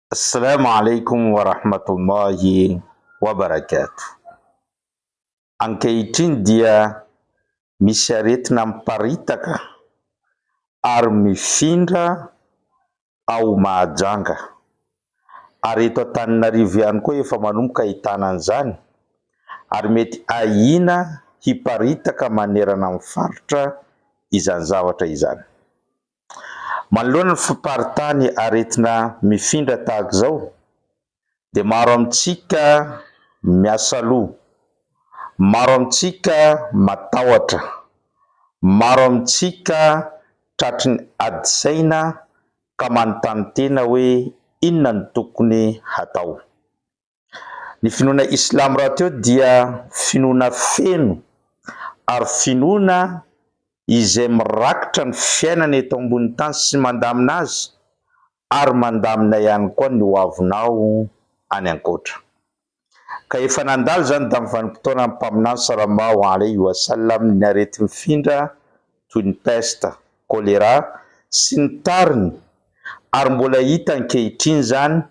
Assalama alaikum wa rahmatullahi wa barakatuh. Ankehitriny dia misy aretina miparitaka ary mifindra ao Mahajanga. Ary eto Antananarivo ihany koa efa manomboka ahitana an'izany ary mety ahiana hiparitaka manerana ny faritra izany zavatra izany. Manoloana ny fiparitahan'ny aretina mifindra tahaka izao dia maro amintsika miasa loha, maro amintsika matahotra, maro amintsika tratry ny ady saina ka manontany tena hoe inona no tokony hatao. Ny finoana islamo rahateo dia finoana feno ary finoana izay mirakitra ny fiainana eto ambony tany sy mandamina azy ary mandamina ihany koa ny ho avinao any ankoatra. Ka efa nandalo izany tamin'ny vanim-potoanan'ny Mpaminany Salallahu alaihi wa sallam ny areti-mifindra toy ny pesta, kolera sy ny tariny ary mbola hita ankehitriny izany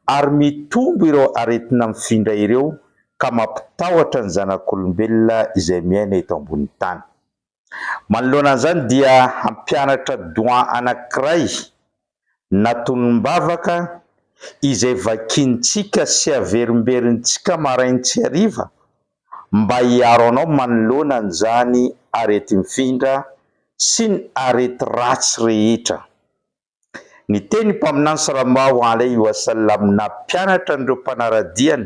ary mitombo ireo aretina mifindra ireo ka mampitahotra ny zanak'olombelona izay miaina eto ambonin'ny tany. Manoloana an'izany dia hampianatra doyen anankiray na tonom-bavaka izay vakiantsika sy averimberintsika marain tsy hariva mba hiaro anao manoloana an'izany areti-mifindra sy ny arety ratsy rehetra. Niteny i Mpaminany Sallallahu Alaihi Wasallam nampianatra an'ireo mpanara-diany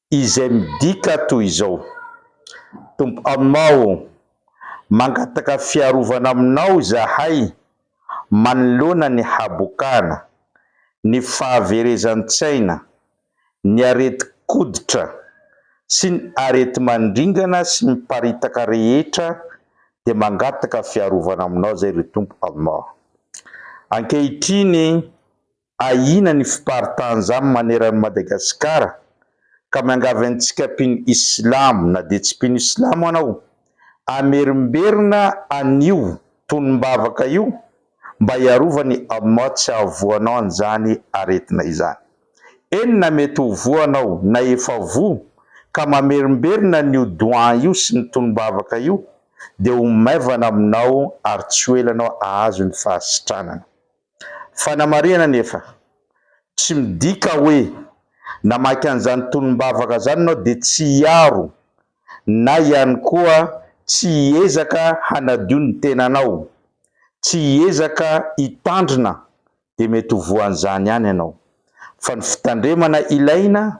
Izay midika toy izao, Tompo Allah ô! Mangataka fiarovana Aminao izahay manoloana ny habokana, ny fahaverezan-tsaina, ny aretin-koditra, sy ny areti-mandringana sy miparitaka rehetra dia mangataka fiarovana Aminao izay ry Tompo Allah. Ankehitriny Ahiana ny fiparitahan-jamy maneran'i Madagasikara ka miangavy antsika mpino islamo na dia tsy mpino islamo anao hamerimberina an'io tonom-bavaka io mba hiarovany Allah tsy hahavoanao an'izany aretina izany. Eny na mety ho voa anao na efa voa ka mamerimberina an'io doua io sy ny tonom-bavaka io dia ho maivana aminao ary tsy ho ela anao hahazo ny fahasitranana. Fanamarihana anefa, tsy midika hoe namaky an'izany tolom-bavaka izany ianao dia tsy hiaro na ihany koa tsy hiezaka hanadio ny tenanao, tsy hiezaka hitandrina dia mety ho voan'izany ihany ianao. Fa ny fitandremana ilaina